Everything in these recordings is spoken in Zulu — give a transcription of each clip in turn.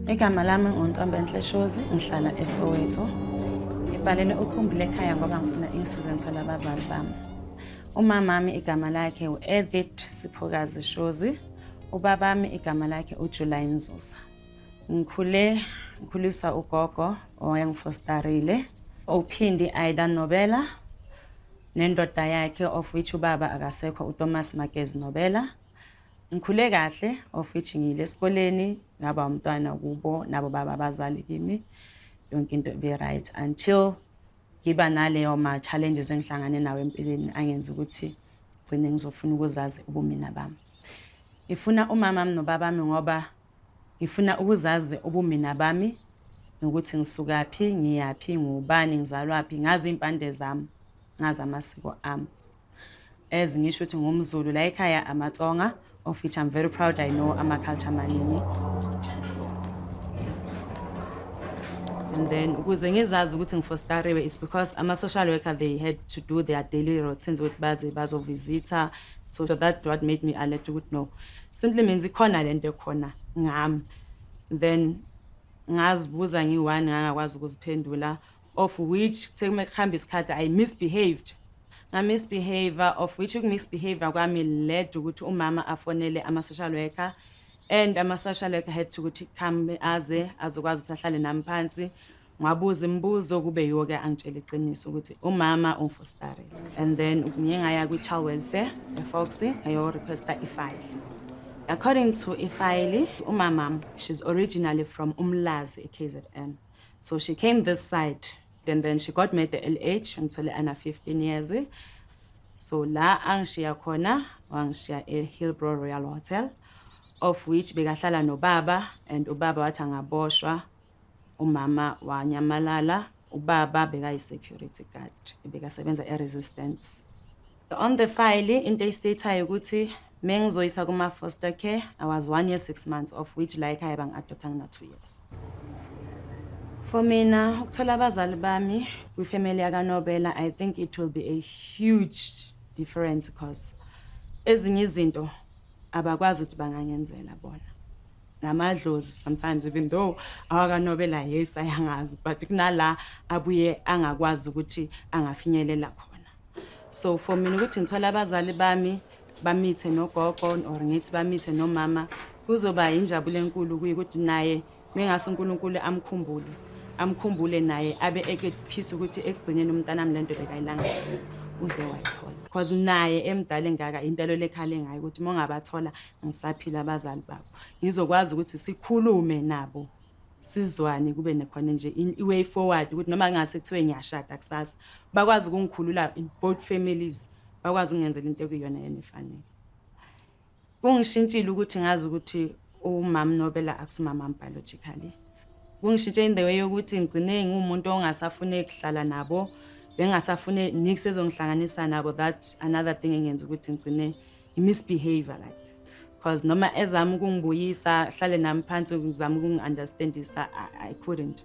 Igama lami nguNtombenhle Shozi, ngihlala eSoweto. Ngibhalele ukhumbule ekhaya ngoba ngifuna ingisize ngithole abazali bami. Umamami igama lakhe u-Edith Siphokazi Shozi. Ubabami igama lakhe uJuly Nzuza. Ngikhule ngikhuliswa ugogo owayengifostarile. Uphindi Aida Nobela. nendoda yakhe of which ubaba akasekho uThomas Magezi Nobela ngikhule kahle of which ngiyile esikoleni ngaba umntwana kubo nabo baba abazali kimi yonke into be right until ngiba naleyo ma challenges engihlangane nawo empilweni angenza ukuthi gcine ngizofuna ukuzazi ubumina bami ngifuna umama nobaba ngoba Ngifuna ukuzazi ubumina bami nokuthi ngisukaphi, ngiyaphi, ngubani, ngizalwaphi, ngazi iy'mpande zami, ngazi amasiko ami. As ngisho ukuthi ngumZulu la ekhaya amaTsonga of which I'm very proud I know ama-culture amaningi. And then ukuze ngizazi ukuthi ngifostariwe it's because ama-social worker they had to do their daily routines ukuthi baze bazovizitha bazo so that what made me alert ukuthi no simply means ikhona le nto ekhona ngami then ngazibuza ngiyi-one ngangakwazi ukuziphendula of which kuthe kume kuhamba isikhathi i misbehaved ngamisbehavior of which ukumisbehavior kwami led ukuthi umama afonele ama-social worker and ama-social worker had to ukuthi come aze azokwazi ukuthi ahlale nami phansi Ngabuza imibuzo kube yiwo-ke angitshela iqiniso ukuthi umama ungifositarele and then ngiye ngaya kwi-child welfare efoxy ngayorequesta ifayili according to ifayili umamam she's originally from umlazi e-kzn so she came this side and then she got made the lh ngithole ana 15 years so la angishiya khona wangishiya e-hillbrow royal hotel of which bekahlala nobaba and ubaba wathi angaboshwa umama wanyamalala ubaba bekayi-security guard ebekasebenza e-resistance on the file into eyistathayo ukuthi mengizoyisa kuma-foster care i was one year six months of which la ekhaya bangi-adoptha ngina-two years for mina ukuthola abazali bami kwifamily yakanobela i think it will be a huge difference because ezinye izinto abakwazi ukuthi bangangenzela bona namadlozi sometimes even though awakanobela yes ayangazi but kunala abuye angakwazi ukuthi angafinyelela khona so for mina ukuthi ngithola abazali bami bamithe nogogo or ngithi bamithe nomama kuzoba yinjabulo enkulu kuye ukuthi naye mengase uNkulunkulu amkhumbule amkhumbule naye abe ekephisa ukuthi ekugcineni umntanami lento bekayilanga uze wayithola because naye emdala engaka intelo lekhale ngayo ukuthi mongabathola ngisaphila abazali babo ngizokwazi ukuthi sikhulume nabo sizwane kube nekhona nje i-way forward ukuthi noma ngase kuthiwe ngiyashada kusasa bakwazi ukungikhulula in both families bakwazi ukungenzela into ekuyona yena efanele kungishintshile ukuthi ngazi ukuthi umama nobela akusumama biologically kungishintshe in the way yokuthi ngigcine ngumuntu ongasafune kuhlala nabo bengasafune nix ezongihlanganisa nabo that another thing engenza ukuthi ngigcine i-misbehavior like because noma ezama ukungibuyisa hlale nami phansi ngizama ukungi-understandisa I, i couldn't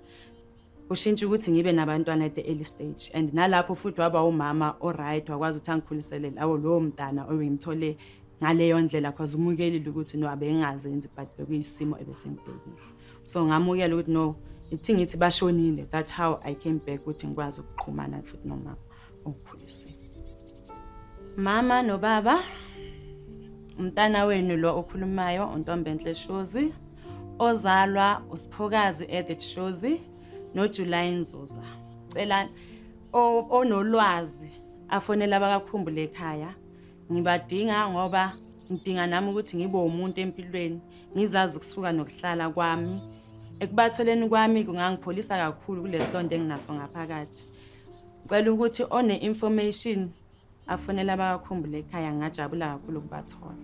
ushintsha ukuthi ngibe nabantwana at the early stage and nalapho futhi waba umama oright wakwazi ukuthi angikhulisele lawo lowo mntana obengimthole ngaleyo ndlela because umukelile ukuthi no abengazenzi but bekuyisimo ebesengibhekile so ngamukela ukuthi no ithi ngithi bashonile that's how i came back ukuthi ngikwazi ukuqhumana futhi nomama ongikhulisile mama nobaba umntana wenu lo okhulumayo untombenhle shozi ozalwa usiphokazi edit shozi nojulayi nzuza cela onolwazi afonela abakakhumbule ekhaya ngibadinga ngoba ngidinga nami ukuthi ngibe umuntu empilweni ngizazi ukusuka nokuhlala kwami ekubatholeni kwami kungangipholisa kakhulu kulesilonto enginaso ngaphakathi ngicela ukuthi one information afonela abakakhumbule ekhaya ngingajabula kakhulu ukubathola